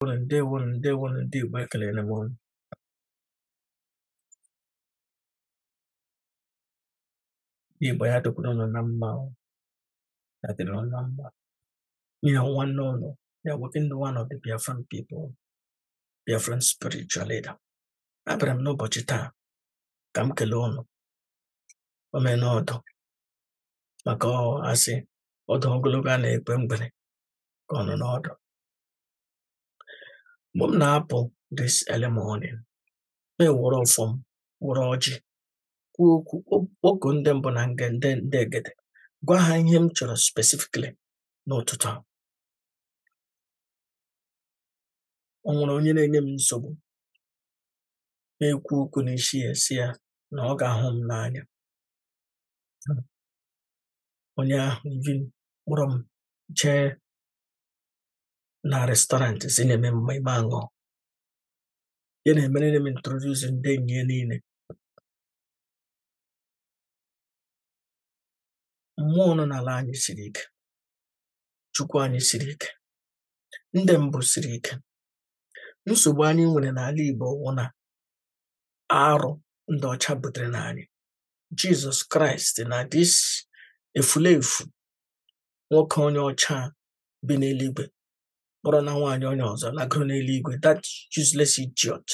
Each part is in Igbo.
ndewonu ndewonu ndewonu ndị Igbo ekelere m unu ndị Igbo ya dịkwuru unu na mma o, ya dịrị unu na mma nwanne unu the awoken one of the Biafran people Biafran spiritual leader abịara m n'ụbọchị taa ka m kelee unu omenọdụ maka a sị ọdụ ogologo a na-ekpe mgbere ka ọ nọ n'ọdụ mgbe m na-apụ this early morning m ewere ọfọ m were ọjị kwuo okwu kpọkuo ndị mbụ na nge ndị ndị egede gwa ha ihe m chọrọ specifically n'ụtụtụ a o nwere onye na-enye m nsogbu na-ekwu okwu n'isi ya sị ya na ọ ga-ahụ m n'anya onye ahụ even kpọrọ m jee na restaurant sị nye m mmai m aṅụ ya na-emere m introduce ndị enyi ya niile mmụọ nọ n'ala anyị siri ike chukwu anyị siri ike ndị mbụ siri ike nsogbu anyị nwere n'ala igbo wụ na arụ ndị ọcha butere na anyị jizọs kraịst na this efulefu nwoke onye ọcha bi n'eluigwe kpọrọ na nwaanyị onye ọzọ lagoro n'eluigwe that useless idiot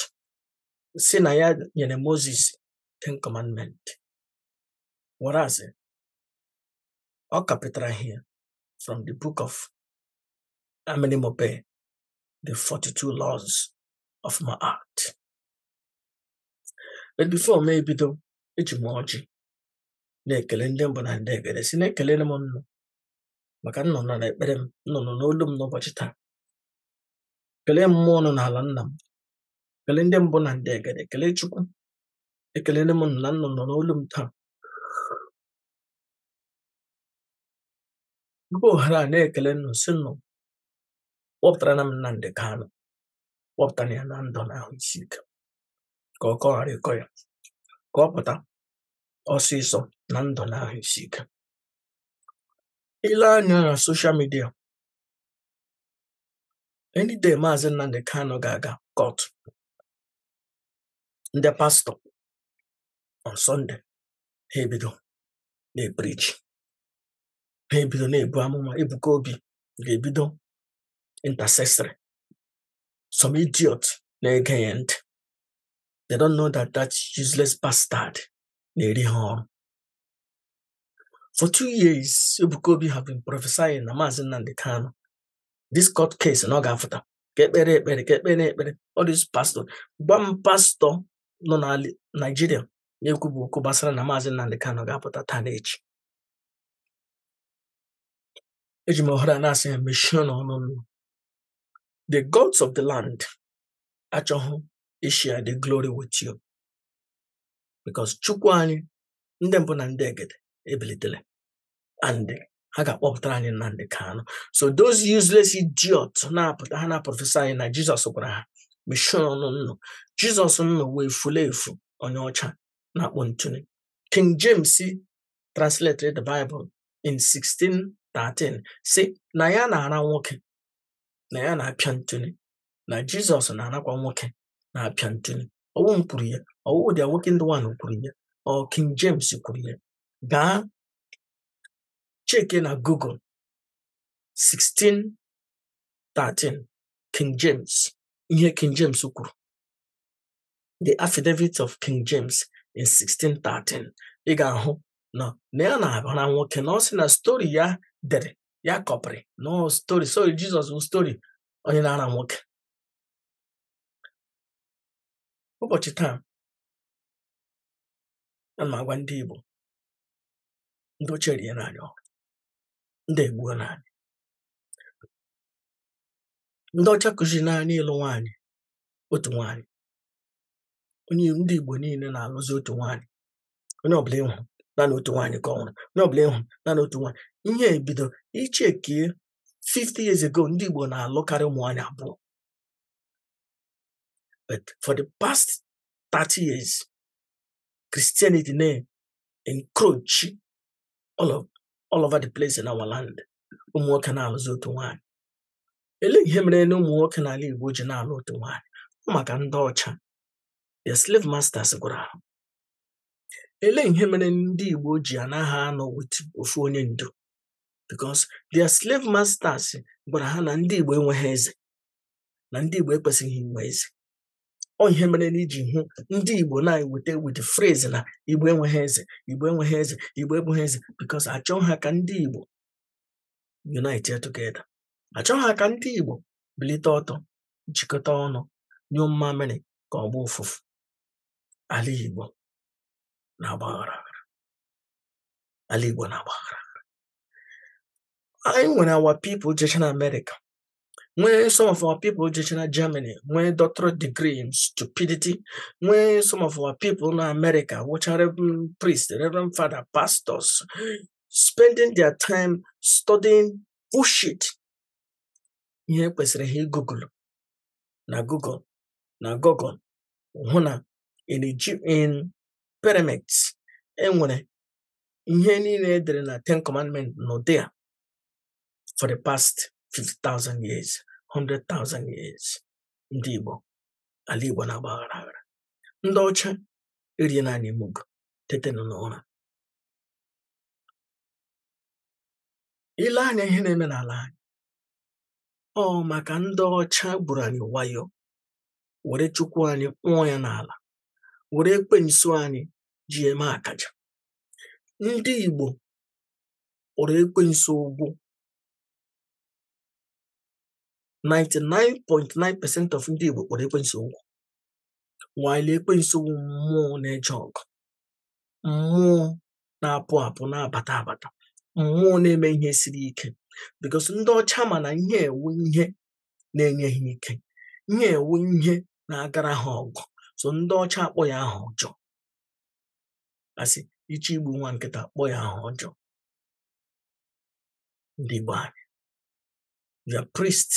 sị na ya nyere moses ten commandment whereas ọ kọpịtara ihe from the book of Amenemope, the 42 laws of Ma'at. But before m ebido eji m ọjị na-ekele ndị mbụ na ndị egede sị na ekelere m nnụ maka nnụ nara ekpere m nnụ nụrụ olu m n'ụbọchị taa kelee mmụọ nọ n'ala nna m kelee ndị mbụ na ndị egede kelee chukwu ekelele m na nnụ nụrụ olu m taa were ohere a na-ekele nnụ sị nnụ kpọpụtara na m Nnamdị Kanụ kpọpụtara ya na ndụ na ahụ isi ike ka ọ ghara ịkọ ya ka ọ pụta ọsịsọ na ndụ na ahụ isi ike i lee anya na social media any day maazị Nnamdi Kanu ga-aga court ndị pastọ on Sunday ha ebido na-epreach ha ebido na-ebu amụma Ebuka Obi ga-ebido intercessory some idiot na-ege ya ntị they don't know that that useless bastard na-eri ha ọrụ For two years, Ebuka Obi have been prophesying na Maazị Nnamdi Kanu. This court case na ọ ga-afụta ka ekpere ekpere ka ekpere ekpere all these pastor gwa m pastọ nọ na Naijiria na-ekwubu okwu gbasara na Maazị Nnamdi Kanu ga-apụta taa na echi eji m ohere a na-asị ya mechie n'ọnụ the gods of the land achọghị ishare the glory with you because Chukwu anyị ndị mbụ na ndị egede ebilitele and ha ga-akpọpụtara anyị Nnamdi Kanu so those useless idiot na-apụta ha na-aprophesy na Jizọs gwara ha mechie ọnụ unu Jizọs unu wụ efulefu onye ọcha na-akpọ ntụnụ King James translated the Bible in 1613 sị na ya na-ara nwoke na ya na-apịa ntụnụ na Jizọs na-arakwa nwoke na-apịa ntụnụ ọ wụ m kwuru ya ọ wụ dị nwoke ndị nwanụ kwuru ya ọ King James kwuru ya gaa cheke na Google 1613 King James ihe King James kwuru the affidavit of King James in 1613 ị ga-ahụ na na ya na-ara nwoke na ọ sị na stori ya dere ya kọpịrị na story sorry Jesus bụ story onye na-ara nwoke ụbọchị taa ana m agwa ndị Igbo ndị ọcha eriena anyị ọrụ ndị egbuona anyị ndị ọcha kụzirina anyị ịlụ nwaanyị otu nwaanyị ndị Igbo niile na-alụzi otu nwaanyị onye ọbụla ị hụrụ naanị otu nwaanyị ka ọ lụrụ onye ọbụla ị hụrụ naanị otu nwaanyị i bido ichekie 50 years ago ndị Igbo na-alụkarị ụmụ nwaanyị abụọ but for the past 30 years Christianity na-encroach all, of, all over the place in our land ụmụ nwoke na-alụzi otu nwaanyị elee ihe mere na ụmụ nwoke n'ala Igbo ji na-alụ otu nwaanyị ọ maka ndị ọcha their slave masters gwara ha elee ihe mere ndị Igbo ji anaghị anọ with ofu onye ndu because their slave masters gwara ha na ndị Igbo enweghị eze na ndị Igbo ekwesịghị inwe eze ọ ihe mere na i ji hụ ndị Igbo na-eweta with phrase na Igbo enweghị eze Igbo enweghị eze Igbo enweghị eze because achọghị ha ka ndị Igbo unite together achọghị ha ka ndị Igbo bilite ọtọ jikọta ọnụ nyụọ mmamịrị ka ọ gbọọ ụfụfụ ala Igbo na-agbaghara ala Igbo na-agbaghara anyị nwere our people jecha na Amerịka nwee some of our people jechara Germany nwee doctorate degree in stupidity nwee some of our people na America wụcha reverend priest reverend father pastors spending their time studying bullshit ihe kwesịrị ha igugulu na Google na Google hụ na in in pyramids enwere ihe niile edere na Ten Commandments n'ụdị a for the past 50,000 years 100,000 years ndị Igbo ala Igbo na-agba aghara aghara ndị ọcha eriena anyị mugu tetenụ n'ụra ile anya ihe na-eme n'ala anyị ọ maka ndị ọcha gburu anyị wayo were chukwu anyị kpụọ ya n'ala were ekwensu anyị ji eme akaja ndị Igbo kpọrọ ekwensu ụgwụ 99.9 percent of ndị Igbo kpọrọ ekwensu ụgwụ while ekwensu wụ mmụọ na-eje ọgụ mmụọ na-apụ apụ na-abata abata mmụọ na-eme ihe siri ike because ndị ọcha ma na ihe a wụ ihe na-enye ha ike ihe a wụ ihe na-agara ha ọgụ so ndị ọcha akpọ ya aha ọjọọ asị ị chọọ igbu nwa nkịta kpọ ya aha ọjọọ ndị Igbo anyị your priests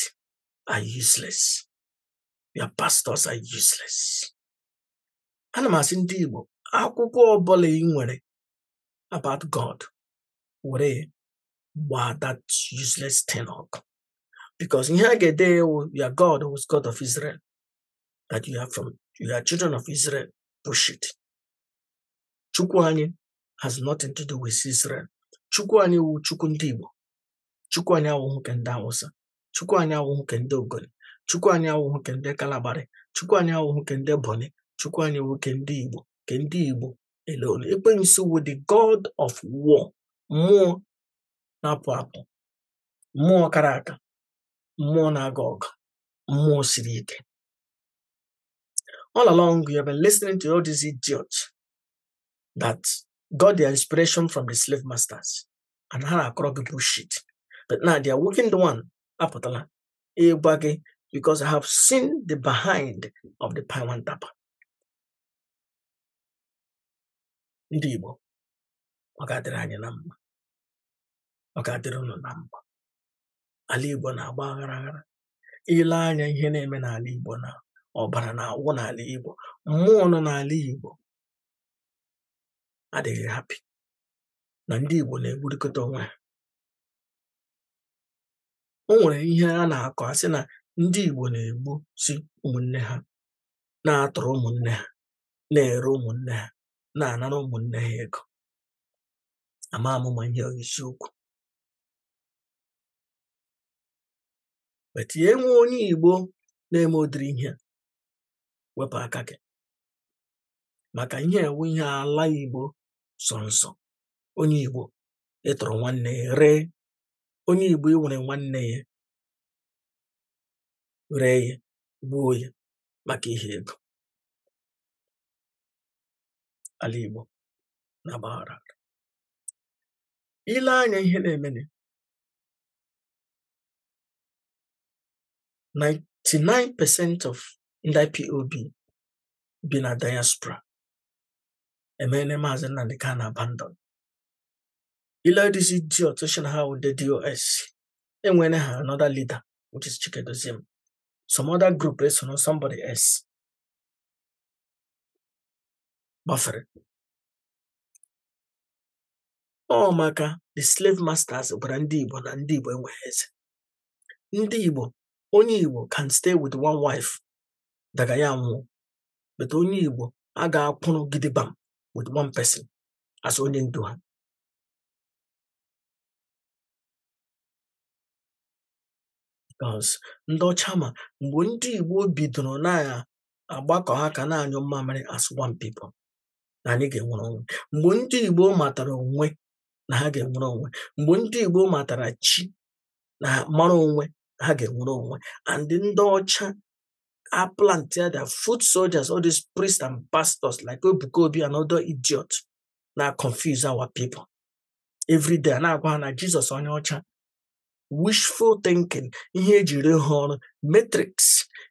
are useless your pastors are useless ana m asị ndị Igbo akwụkwọ ọbụla ị nwere about God were gbaa that useless thing ọkụ because ihe a ga-ede wụ your God was God of Israel that you are from you are children of Israel bullshit chukwu anyị has nothing to do with Israel chukwu anyị wụ chukwu ndị Igbo chukwu anyị awụhụ ke ndị Awụsa chukwu anyị awụhụ ke ndị Ogoni chukwu anyị awụhụ ke ndị Kalabari chukwu anyị awụhụ ke ndị Bonny chukwu anyị wụ ke ndị Igbo ke ndị Igbo alone ekwensu wụ the god of war mmụọ na-apụ apụ mmụọ kara aka mmụọ na-aga ọgụ mmụọ siri ike All along, you have been listening to all these idiots that got their inspiration from the slave masters and ha na-akọrọ gị bullshit. But now the awakened one apụtala ịgwa gị because I have seen the behind of the Pawan Tapa. Ndị Igbo, ọ ga-adịrị anyị na mma, ọ ga-adịrị unu na mma. Ala Igbo na-agba aghara aghara, i lee anya ihe na-eme n'ala Igbo na ọbara na-awụ n'ala Igbo mmụọ nọ n'ala Igbo adịghị happy na ndị Igbo na-egburikọta onwe ha o nwere ihe a na-akọ a sị na ndị Igbo na-egbusi ụmụnne ha na-atụrụ ụmụnne ha na-ere ụmụnne ha na-anara ụmụnne ha ego amaghị m ma ihe ọ wụ eziokwu but ya enwee onye Igbo na-eme ụdịrị ihe wepụ aka gị maka ihe a wụ ihe ala Igbo sọ nsọ onye Igbo ịtụrụ nwanne ya ree onye Igbo iwere nwanne ya ree ya gbuo ya maka ihe ego ala Igbo na-agbaghara i lee anya ihe na-emene 99 percent of ndị IPOB bi na diaspora emeene maazị Nnamdi Kanu abandon i lee these idiots sị na ha wụ ndị DOS enwere ha another leader which is Chika Edoziem some other group eso na somebody else gbafere ọ maka the slave masters gwara ndị Igbo na ndị Igbo enweghị eze ndị Igbo onye Igbo can stay with one wife daga ya nwụọ but onye Igbo agaghị akwụrụ gidigbam with one person as onye ndu ha because ndị ọcha ma mgbe ndị Igbo bidoro na-agbakọ aka na-anyụ mmamịrị as one people na anyị ga-enwere onwe mgbe ndị Igbo matara onwe na ha ga-enwere onwe mgbe ndị Igbo matara chi na mara onwe ha ga-enwere onwe and ndị ọcha have planted their foot soldiers all these priests and pastors like Ebuka Obi and other idiots na-aconfuse our people every day na-agwa ha na Jizọs onye ọcha wishful thinking ihe ejiri ha ọrụ matrix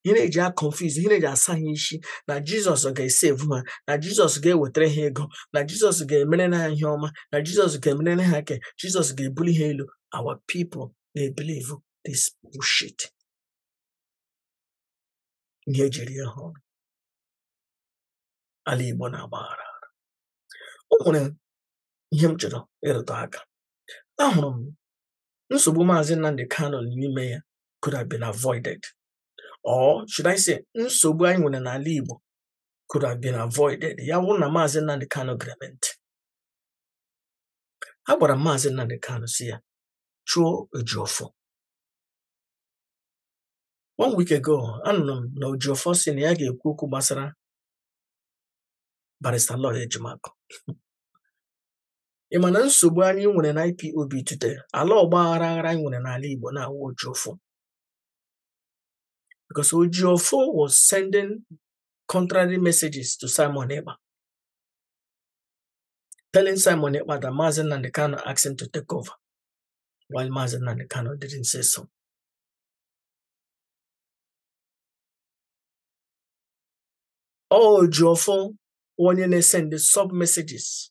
ihe a na-eji aconfuse ihe a na-eji asa ha isi na jizọs ga-esave ha na jizọs ga-ewetara ha ego na jizọs ga-emere ha ihe ọma na jizọs ga-emere ha ke jizọs ga-ebuli ha elu our people na-ebelieve this bullshit ihe ejiri ha ọrụ ala igbo na-agbaghara o nwere ihe m chọrọ ịrụtụ aka ahụrụ m nsogbu maazị Nnamdi Kanu n'ime ya could have been avoided or should I say nsogbu anyị nwere n'ala Igbo could have been avoided ya wụrụ na maazị Nnamdi Kanu gere m ntị agwara m maazị Nnamdi Kanu sị ya chụọ Ejiofor one week ago anụrụ m na Ejiofor sị na ya ga-ekwu okwu gbasara barista Aloy Ejimakor ị ma na nsogbu anyị nwere na IPOB today ala ọgba aghara aghara anyị nwere n'ala Igbo na-awụ Ejiofor because Ejiofor was sending contrary messages to Simon Ekpa telling Simon Ekpa that Mazi Nnamdi Kanu asked him to take over while Mazi Nnamdi Kanu didn't say so. Ejiofor onye na-esend sub messages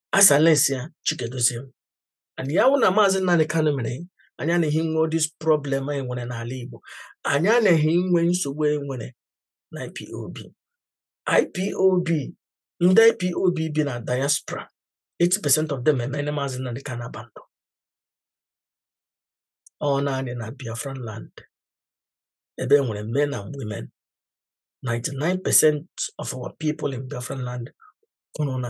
as well as ya Chika Edoziem and ya wụrụ na maazị Nnamdi Kanu mere anyị anaghị nwe this problem anyị nwere n'ala Igbo anyị anaghị nwe nsogbu anyị nwere na IPOB IPOB ndị IPOB bi na diaspora 80% of them emene maazị Nnamdi Kanu abandon ọ naanị na Biafran land ebe e nwere men and women 99% of our people in Biafran land kwụrụ na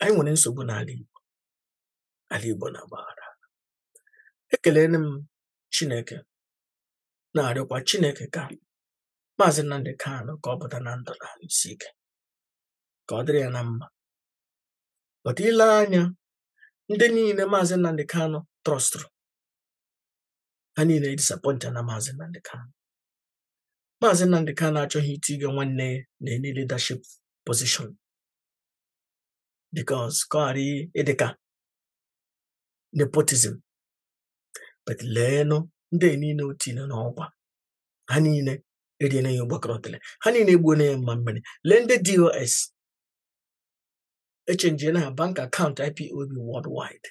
anyị nwere nsogbu n'ala Igbo ala Igbo na-agbaghara ekelere m Chineke na-arịọkwa Chineke ka Maazị Nnamdi Kanu ka ọ pụta na ndụ na ahụ isi ike ka ọ dịrị ya na mma but i lee anya ndị niile Maazị Nnamdi Kanu trọstụrụ ha niile edisappointịna Maazị Nnamdi Kanu Maazị Nnamdi Kanu achọghị itinye nwanne ya na any leadership position because ka ọ ghara ịdị ka nepotism but leenụ ndị niile o tinye n'ọkwa ha niile eriela ya ụgbakọrọtele ha niile egbuola ya mma mmiri lee ndị DOS echenjiela aha bank account IPOB worldwide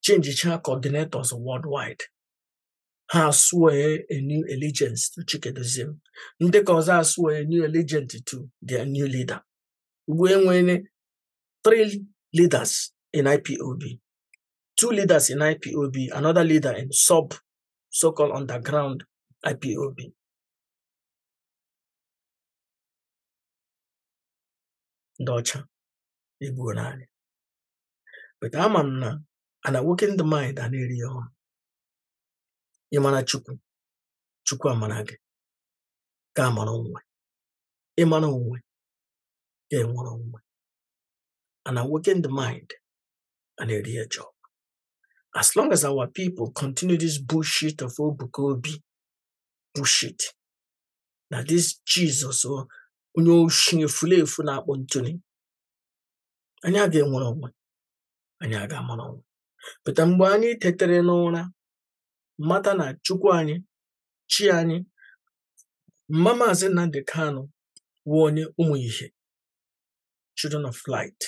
chenjichaa coordinators worldwide ha aswear a new allegiance to Chika Edoziem ndị nke ọzọ aswear a new allegiance to their new leader ugbu a e nwere three leaders in IPOB two leaders in IPOB another leader in sub so-called underground IPOB ndị ọcha egbuola anyị but ama m na an awakened mind a na-eri ya ọnụ ị mara chukwu chukwu amara gị ga-amara onwe ị mara onwe ga-enwere onwe and awaken the mind a na-eri ha job as long as our people continue this bullshit of Ebuka Obi bullshit na this jesus oh, onye oshi efulefu na-akpọ ntụli anyị aga-enwere onwe anyị aga-amara onwe pụta mgbe anyị tetere n'ụra mata na chukwu anyị chi anyị mma maazị Nnamdi Kanu wụ onye ụmụ ihe children of light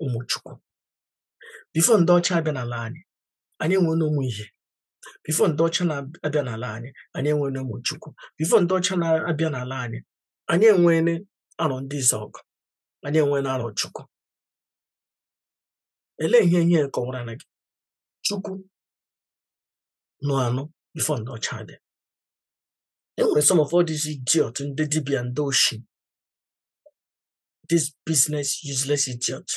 ụmụ chukwu before ndị ọcha abịa n'ala anyị anyị enwena ụmụ ihe before ndị ọcha na-abịa n'ala anyị anyị enwena ụmụ chukwu before ndị ọcha na-abịa n'ala anyị anyị enwena Arọndizuọgụ anyị enwena Arọchukwu Elee ihe ihe kọwara na gị? Chukwu nọ anọ before ndị ọcha dị. E nwere some of all these idiot ndị dibịa ndị oshi this business useless idiot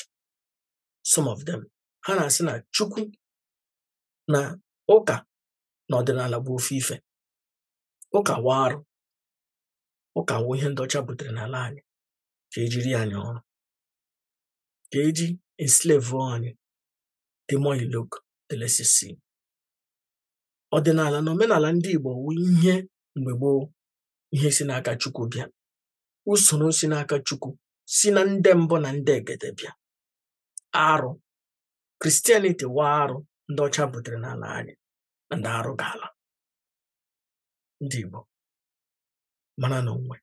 some of them ha na-asị na Chukwu na ụka na ọdịnala bụ ofu ife ụka wụ arụ ụka wụ ihe ndị ọcha butere n'ala anyị ka e ji eri anyị ọrụ ka e ji enslave anyị the more you look the less you see ọdịnala na omenala ndị Igbo wụ ihe mgbe gboo ihe si n'aka Chukwu bịa usoro si n'aka Chukwu si na ndị mbụ na ndị egede bịa arụ Christianity wụ arụ ndị ọcha butere n'ala anyị ndị arụ ga-ala ndị Igbo maranụ onwe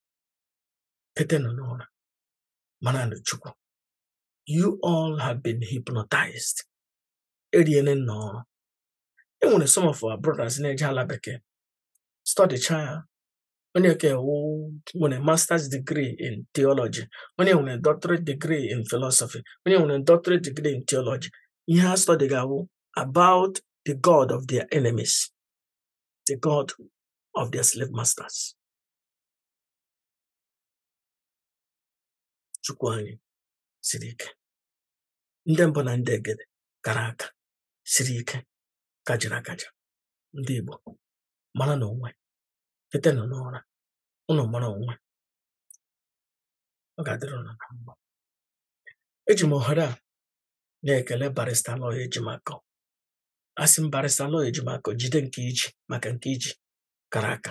tetenụ n'ụra maranụ Chukwu you all have been hypnotized e riele ụnụ ọrụ e nwere some of our brothers na-eje ala bekee studycha ya onye nke nwere masters degree in theology onye nwere doctorate degree in philosophy onye nwere doctorate degree in theology ihe ha studyga wụ about the god of their enemies the god of their slave masters Chukwu anyị siri ike ndị mbụ na ndị egede kara aka siri ike kajara akaja ndị Igbo maranụ onwe tetenụ n'ụra ụnụ mara onwe ọ ga-adịrị ụnụ na mma eji m ohere a na-ekele barrister Aloy Ejimakọ asị m barrister Aloy Ejimakọ jide nke i ji maka nke i ji kara aka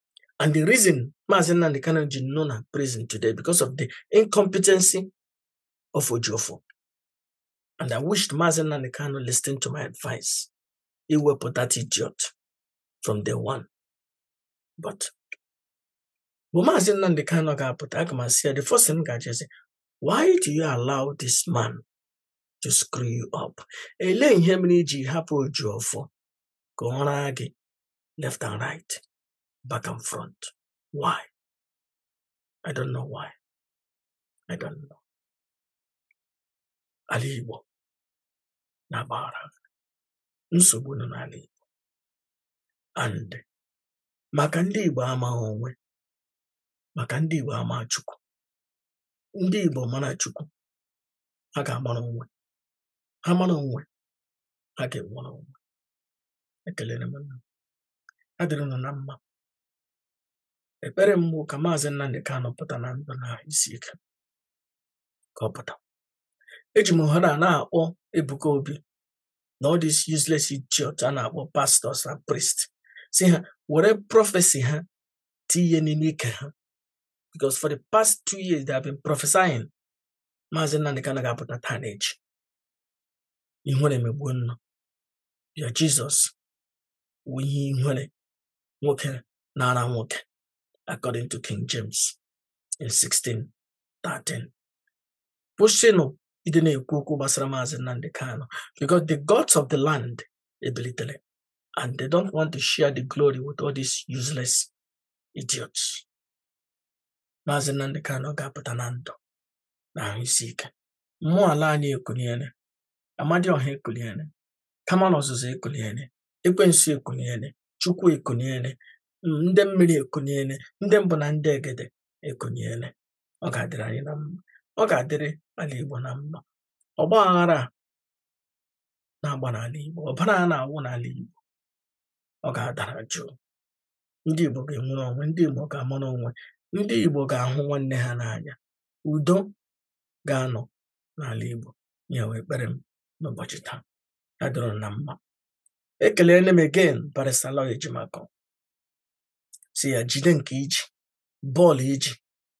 And the reason Mazi Nnamdi Kanu ji nọ na prison today because of the incompetency of Ejiofor. And I wished Mazi Nnamdi Kanu listened to my advice iwepụ that idiot from day one. But mgbe Mazi Nnamdi Kanu ga-apụta aga m asị ya the first thing ga-ajụ ya sị why do you allow this man to screw you up? Elee ihe mere i ji hapụ Ejiofor ka ọ raa gị left and right, back and front. Why? I don't know why. I don't know. Ala Igbo na-agba aghara nsogbu nọ n'ala Igbo and maka ndị Igbo amaghị onwe maka ndị Igbo amaghị Chukwu ndị Igbo mara Chukwu ha ga-amara onwe ha mara onwe ha ga-enwere onwe ekelere m unu ya dịrị unu na mma ekpere m bụ ka maazị Nnamdi Kanu pụta na ndụ na ahụ isi ike ka ọ pụta eji m ohere a na-akpọ Ebuka Obi na all these useless idiots a na-akpọ pastors and priests sị ha were prophecy ha tinye n'ime ike ha because for the past two years they have been prophesying maazị Nnamdi Kanu ga-apụta taa na echi ihere emegbuo unu bịa Jesus wụ ihe ihere nwoke na-ara nwoke according to King James in 1613 kwụsịnụ ịdị na-ekwu okwu gbasara maazị Nnamdi Kanu because the gods of the land ebilitere and they don't want to share the glory with all these useless idiots maazị Nnamdi Kanu ga-apụta na ndụ na ahụ isi ike mmụọ ala anyị ekuniele Amadioha ekuniele Kamalu Ozuzu ekuniele ekwensu ekuniele chukwu ekuniele ndị mmiri ekuniele ndị mbụ na ndị egede ekuniele ọ ga-adịrị anyị na mma ọ ga-adịrị ala igbo na mma ọgba aghara a na-agba n'ala igbo ọbara a na-awụ n'ala igbo ọ ga-adara jụụ ndị igbo ga-enwere onwe ndị igbo ga-amara onwe ndị igbo ga-ahụ nwanne ha n'anya udo ga-anọ n'ala igbo ya wụ ekpere m n'ụbọchị taa ya dịrị na mma ekelere m again Barrister Aloy Ejimakor sị ya jide nke i ji bọọlụ i ji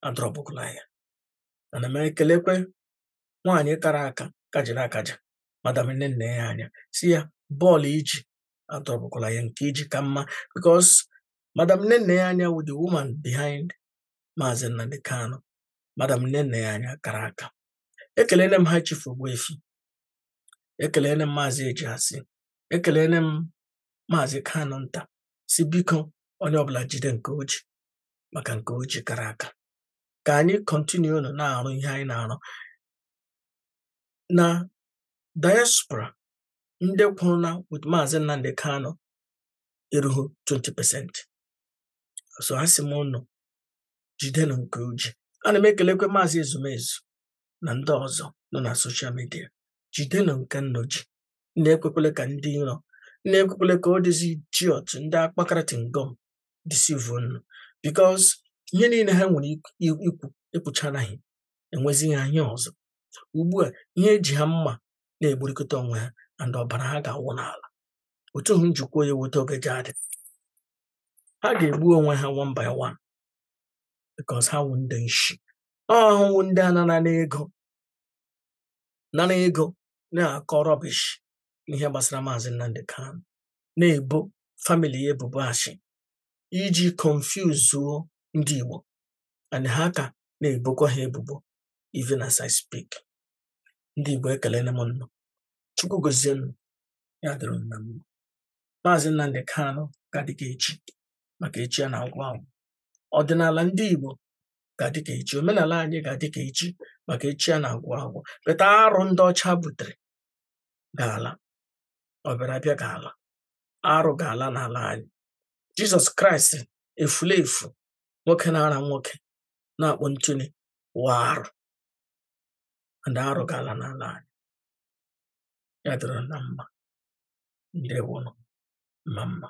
adrọpụkwala ya ana m ekelekwe nwaanyị kara aka kajiri akaji madam Nnennaya Anya sị ya bọọlụ i ji adrọpụkwala ya nke i ji ka mma because madam Nnennaya Anya wụ the woman behind maazị Nnamdi Kanu madam Nnennaya Anya kara aka ekelele m High Chief Ogbuefi ekelele m maazị Ejiasị ekelele m maazị Kanu nta sị biko onye ọbụla jide nke o ji maka nke o ji kara aka ka anyị kọntinuo na-arụ ihe anyị na-arụ na diaspora ndị kwụrụ na with maazị Nnamdi Kanu erughị 20 pasent so asị m unu jidenụ nke unu ji ana m ekelekwa maazị Ezumezu na ndị ọzọ nọ na soshal midia jidenụ nke nnu ji nnu ekwekwela ka ndị iro nnu ekwekwela ka all these idiot ndị akpakarịtị ngọm disivu nnu bikos ihe niile ha nwere ikwu ekwuchanaghị enwezi ha ihe ọzọ ugbu a ihe eji ha mma na-egburikọta onwe ha and ọbara ha ga-awụ n'ala otu hụ m ji kwuo ya wụ etu ọ ga-eji adị ha ga-egbu onwe ha one by one bikos ha wụ ndị nshi ọhụụ ndị a nara n'ego nara ego na-akọ rọbish n'ihe gbasara maazị Nnamdi Kanu na-ebo famili ya ebubo ashị iji konfuzuo ndị Igbo and ha ka na-ebokwa ha ebubo even as I speak ndị Igbo ekelele m nnụ Chukwu gozie nnụ ya dịrị na mma maazị Nnamdi Kanu ga-adị ka echi maka echi a na-agwụ agwụ ọdịnala ndị Igbo ga-adị ka echi omenala anyị ga-adị ka echi maka echi a na-agwụ agwụ but arụ ndị ọcha butere ga-ala ọbịarabịa ga-ala arụ ga-ala n'ala anyị Jizọs Kraịst efulefu nwoke na-ara nwoke na-akpọ ntụli wụ arụ and arụ ga-ala n'ala anyị ya dịrị na mma ndewonụ mma mma